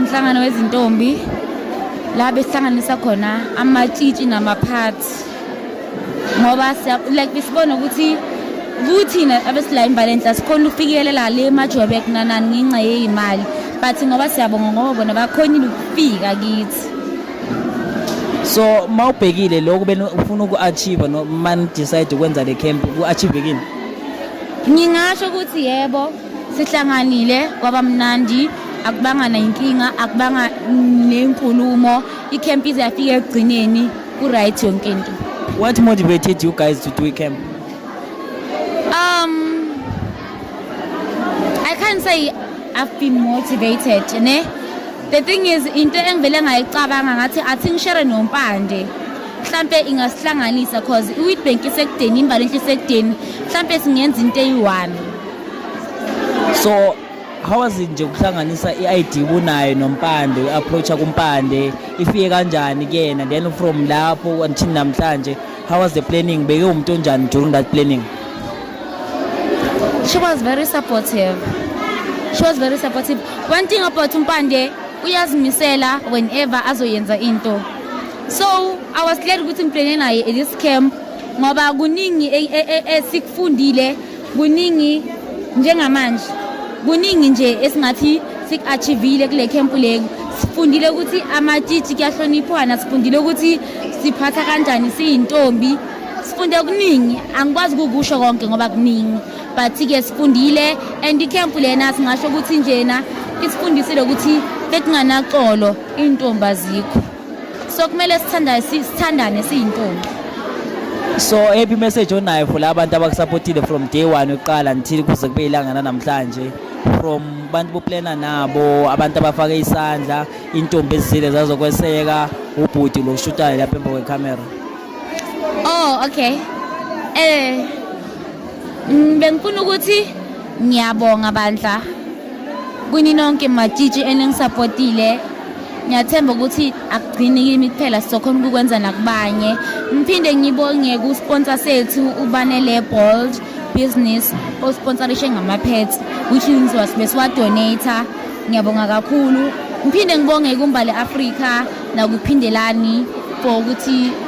Umhlangano wezintombi la besihlanganisa khona amatshitshi namaphathi ngoba like besibona ukuthi kuthina abesila imbali enhla sikhona ukufikelela le majobek nanani ngenxa yeyimali but ngoba siyabonga ngoba bona bakhonile ukufika kithi so mawubhekile lokho bena ufuna uku-achieve no man decide ukwenza le camp ku-achieve kini ngingasho ukuthi yebo Sihlanganile kwabamnandi akubanga nayinkinga akubanga nenkulumo ikhemp ize yafika ekugcineni ku-right yonke into what motivated you guys to do icamp um i can't say i've been motivated ne the thing is into engivele ngayicabanga ngathi athi ngishere nompande mhlampe ingasihlanganisa cause i-witbank isekudeni imbali enhle isekudeni mhlampe singenza into eyi-one so how was it nje ukuhlanganisa i-id kunayo nompande u-approacha kumpande ifike kanjani kuyena then from lapho until namhlanje how was the planning beke umuntu onjani during that planning she was very supportive she was very supportive one thing about umpande uyazimisela whenever azoyenza into so i was glad ukuthi ngiplane naye at this camp ngoba kuningi e, e, e, esikufundile kuningi njengamanje kuningi nje esingathi siku-achivile kule khempu leku sifundile ukuthi amatshitshi kuyahloniphwana sifundile ukuthi siphatha kanjani siyintombi sifunde kuningi angikwazi kukusho konke ngoba kuningi but-ke sifundile and ikhempu lena singasho ukuthi njena isifundisile ukuthi bekunganaqolo iy'ntombi azikho so kumele sithandane sithandane siyintombi so ephi message onayo for labantu abakusupportile from day 1 uqala until kuze kube ilanga namhlanje from abantu boplana nabo abantu abafake isandla intombi ezile zazokweseka ubhuti lo shutayo lapha emva kwecamera oh okay eh mm, bengifuna ukuthi ngiyabonga bandla Kuninonke matshitshi eningisapotile ngiyathemba ukuthi akugcini kimi kuphela sizokhona ukukwenza nakubanye ngiphinde ngibonge ku-sponsor sethu ubanele bold business osponsorishe ngama-pets which means wasibe siwadonata ngiyabonga kakhulu ngiphinde ngibonge kumbali afrika nakuphindelani for ukuthi